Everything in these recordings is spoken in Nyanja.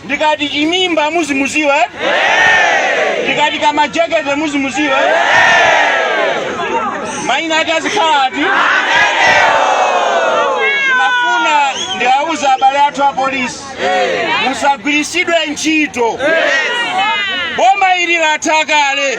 ndikati chimimba muzimudziwa eh? ndikati kamajekete muzimudziwa eh? maina ake azikhala ati ndimafuna ndiwauze abale athu a polisi musagwiritsidwe ntchito boma ili latha kale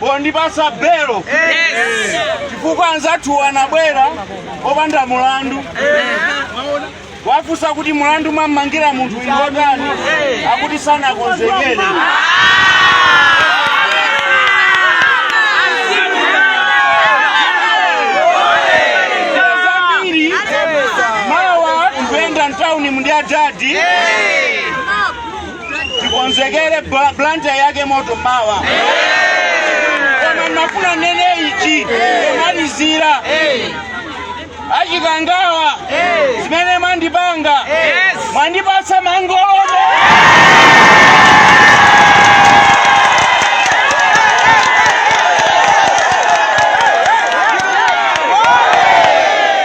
pondipasa belo chifukwa anzathu anabwera opanda mulandu wafunsa kuti mulandu mwammangira munthu inu otani akuti sanakonzekere zambiri mawa tikuyenda mtauni ndi adadi tikonzekere bla- blanta yake moto mawa koma ndimafuna ndinene ichi kumalizira a Chikangawa zimene mwandipanga mwandipatsa mangolome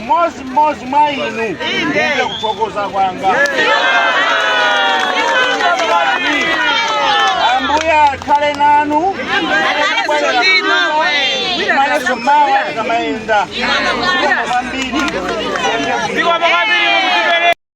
mmodzi mmodzi mwa inu ndiye kuthokoza kwanga ambuye akhale nanu tionanenso mawa tikamayenda kwambiri